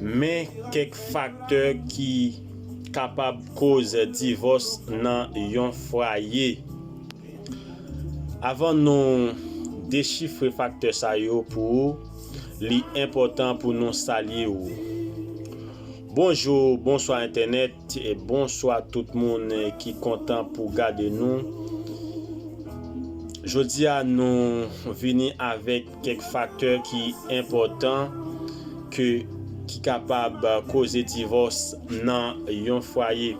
Men kèk faktè ki kapab koz divòs nan yon fwaye. Avan nou dechifre faktè sa yo pou ou, li enpòtan pou nou salye ou. Bonjou, bonswa entènèt, bonswa tout moun ki kontan pou gade nou. Jodi a nou vini avèk. Kèk faktè ki enpòtan ke ki kapab koze divòs nan yon fwaye.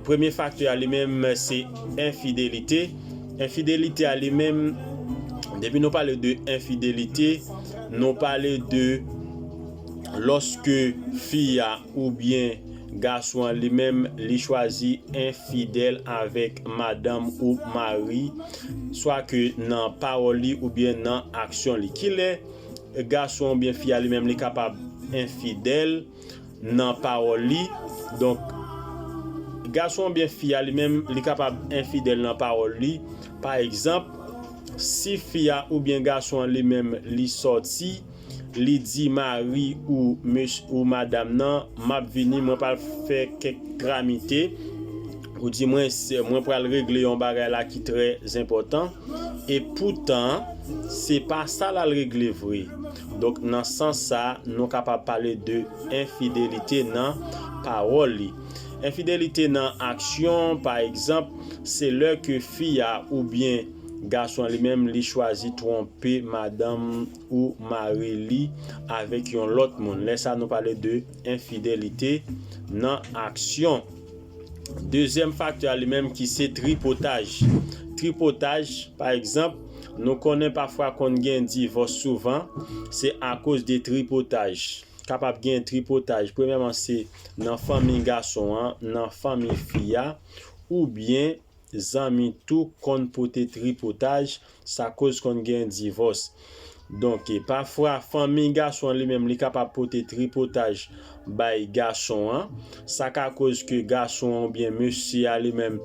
Premye faktè a li menm se enfidelite. Enfidelite a li menm, depi nou pale de enfidelite, nou pale de lòske fi a oubyen. Gason an li menm li chwazi enfidèl avèk madanm ou mari swa ke nan pawòl li oubyen nan aksyon li. Kilè gason an oubyen fi a li menm li kapab enfidèl nan pawòl li? Donk gason an oubyen fi a li menm li kapab enfidèl nan pawòl li. Pa egzanp, si fi a oubyen gason an li menm li sòti. li di mari ou mesy ou madam nan map vini mwen pral fè kèk tramite ou di mwen sè mwen pral regle yon bagay la ki trè zenpòtan e poutan se pa sa lal regle vre donk nan sans sa nou kapab pale de enfidelite nan pawòl li enfidelite nan aksyon pa egzanp se lè ke fi a oubyen gason an li menm li chwazi twonpe madanm ou mare li avèk yon lòt moun. Lè sa nou pale de enfidelite nan aksyon. Dezyèm faktè a li menm ki se tripotaj. Tripotaj, pa egzanp, nou konnen pafwa konn gen divòs souvan, se akoz de tripotaj. Kapab gen tripotaj, premyèman se nan fanmi gason an, nan fanmi fi a, oubyen Zanmi tou konn pote tripotaj, sa koz konn gen divòs. Donk, pafwa fanmi gason an li menm li kapab pote tripotaj bay gason an, sa ka koz ke gason an oubyen mesye a li menm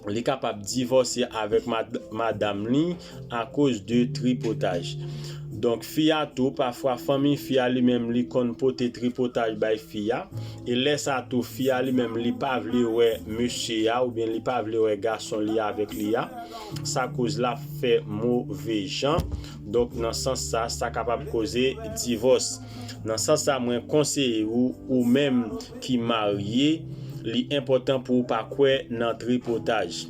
li kapab divòse avèk madam li. akoz de tripotaj donk fi a tou pafwa fanmiy fi a li menm li konn pote tripotaj bay fi a e lè sa tou fi a li menm li pa vle wè mesye a oubyen li pa vle wè gason li avèk li a sa koz lap fè move jan donk nan sans sa sa kapab koze divòs nan sans sa mwen konseye ou ou menm ki marye li enpòtan pou ou pa kwè nan tripotaj.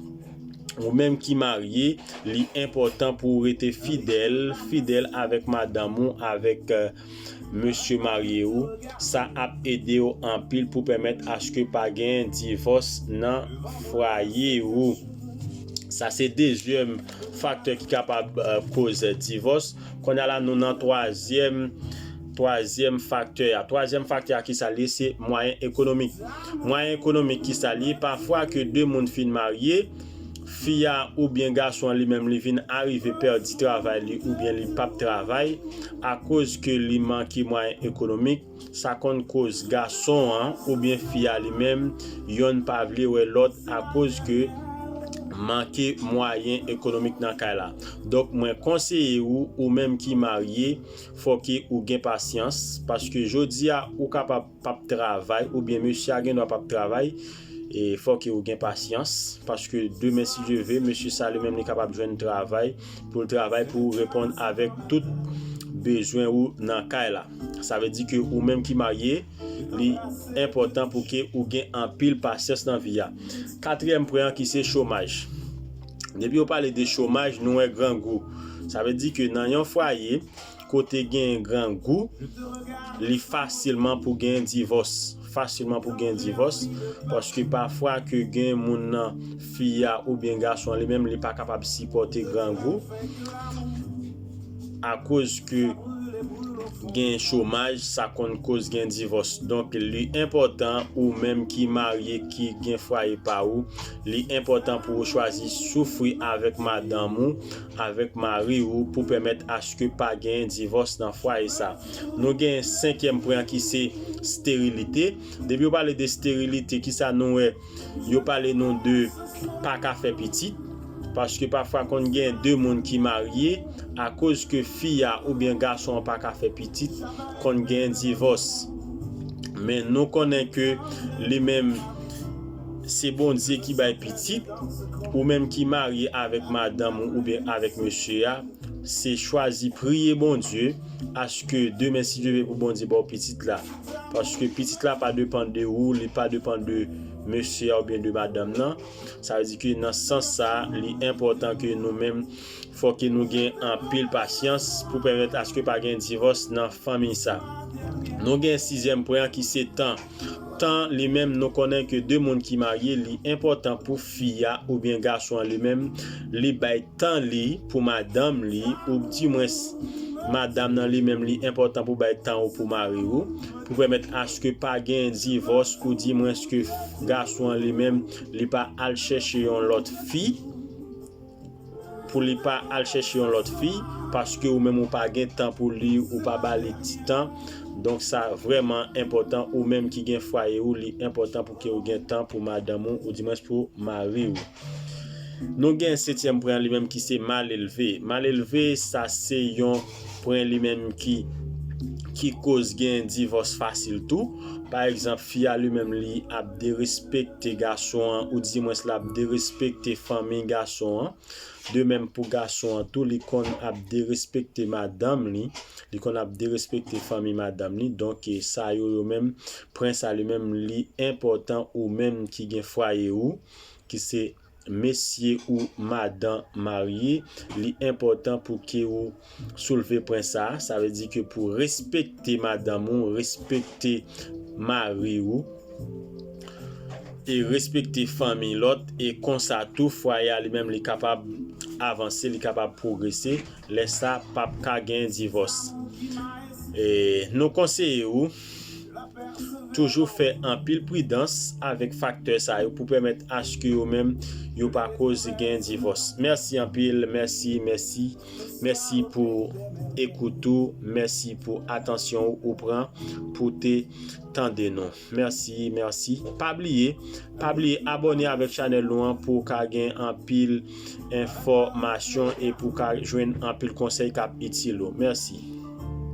Ou menm ki marye, li enpòtan pou ou rete fidèl, fidèl avèk madanm ou, avèk mesye marye ou. Sa ap ede ou anpil pou pèmèt aske pa gen divòs nan fwaye ou. Sa se dezyèm faktè ki kapab koz divòs. Konnya la nou nan twazyèm. Twazyèm faktè a Twazyèm faktè a kisa l ye? Se mwayen ekonomik. Mwayen ekonomik kisa l ye? Pafwa ke 2 moun fin marye, fi a oubyen gason an li menm li vin arive pèdi travay li oubyen li p ap travay akoz ke li manke mwayen ekonomik, sa konn koz gason an oubyen fi a li menm yonn pa vle wè lòt akoz ke manke mwayen ekonomik nan kay la. Donk mwen konseye ou, ou menm ki marye, Fòke ou gen pasyans, paske jodi a ou kapab pap travay oubyen mesye a gendwa pap travay, e fòke ou gen pasyans, paske demen si Dye ve, mesye sa li menm li kapab jwenn travay pou l travay pou reponn avèk tout bezwen ou nan kay la. Sa vle di ke ou menm ki marye, li enpòtan pou ke ou gen anpil pasyans nan vi a. Katriyèm pwen an ki se chomaj. Depi yo pale de chomaj, nou wè grangou. Sa vle di ke nan yon fwaye, kote gen grangou, li fasilman pou gen divòs. Fasilman pou gen divòs, paske pafwa ke gen moun nan, fi a oubyen gason an li menm, li pa kapab sipòte grangou, akoz ke gen chomaj, sa konn koz gen divòs. Donk, li enpòtan ou menm ki marye, ki gen fwaye pa ou, Li enpòtan pou ou chwazi soufri avèk madanm ou, avèk mari ou pou pèmèt aske pa genyen divòs nan fwaye sa. Nou genyen senkyèm pwen an ki se sterilite. Depi yo pale de sterilite ki sa nou wè, yo pale nou de pa ka fè pitit. Paske pafwa konn genyen 2 moun ki marye, akoz ke fi a oubyen gason an pa ka fè pitit, konn genyen divòs. Men nou konnen ke li menm. Se Bondye ki bay pitit, ou menm ki marye avèk madanm ou oubyen avèk mesye a, se chwazi priye Bondye aske demen si Dye vle pou Bondye ba w pitit la. Paske pitit la pa depan de ou, li pa depan de mesye a oubyen de madanm nan. Sa vle di ke nan sans sa a, li enpòtan ke nou menm fò ke nou gen anpil pasyans pou pèmèt aske pa gen divòs nan fanmiy sa. Nou gen sizyèm pwen an ki se tan. Tan li menm nou konnen ke 2 moun ki marye li enpòtan pou fi a oubyen gason an li menm li bay tan li pou madanm li oub di mwens madam nan li menm li enpòtan pou bay tan ou pou mari ou pou pèmèt aske pa gen divòs ou di mwens ke gason an li menm li pa al chèche yon lòt fi. pou li pa al chèche yon lòt fi paske ou menm ou pa gen tan pou li ou pa ba li ti tan donk sa vrèman enpòtan ou menm ki gen fwaye ou li enpòtan pou ke ou gen tan pou madanm ou ou di mwens pou mari ou nou gen setyèm pwen an li menm ki se mal elve mal elve sa se yon Pwen li menm ki ki koz gen divòs fasil tou. Pa egzanp, fi a li menm li ap derespekte gason an ou di mwens lap derespekte fanmi gason an. De menm pou gason an tou li konn ap derespekte madanm li, li konn ap derespekte fanmi madanm li. Donk sa yo yo menm, pwen sa li menm li enpòtan ou menm ki gen fwaye ou ki se. Mesye ou madan marye li enpòtan pou ke ou soulve pwen sa a, sa vle di ke pou respekte madanm ou, respekte mari ou e respekte fanmiy lòt e konsa tou fwaye a li menm li kapab avanse, li kapab pwogrese, lè sa pap ka gen divòs. E nou konseye ou. Toujou fè anpil pridans avèk faktè sa yo pou pèmèt aske yo menm yo pa koz gen divòs. Mèsi anpil, mèsi, mèsi, mèsi pou ekout ou, mèsi pou atansyon ou ou pran pou te tande nou. Mèsi, mèsi. Pa bliye, pa bliye abòne avèk chanèl nou an pou w ka gen anpil enfòmasyon e pou w ka jwenn anpil konsèy k ap itil ou. Mèsi.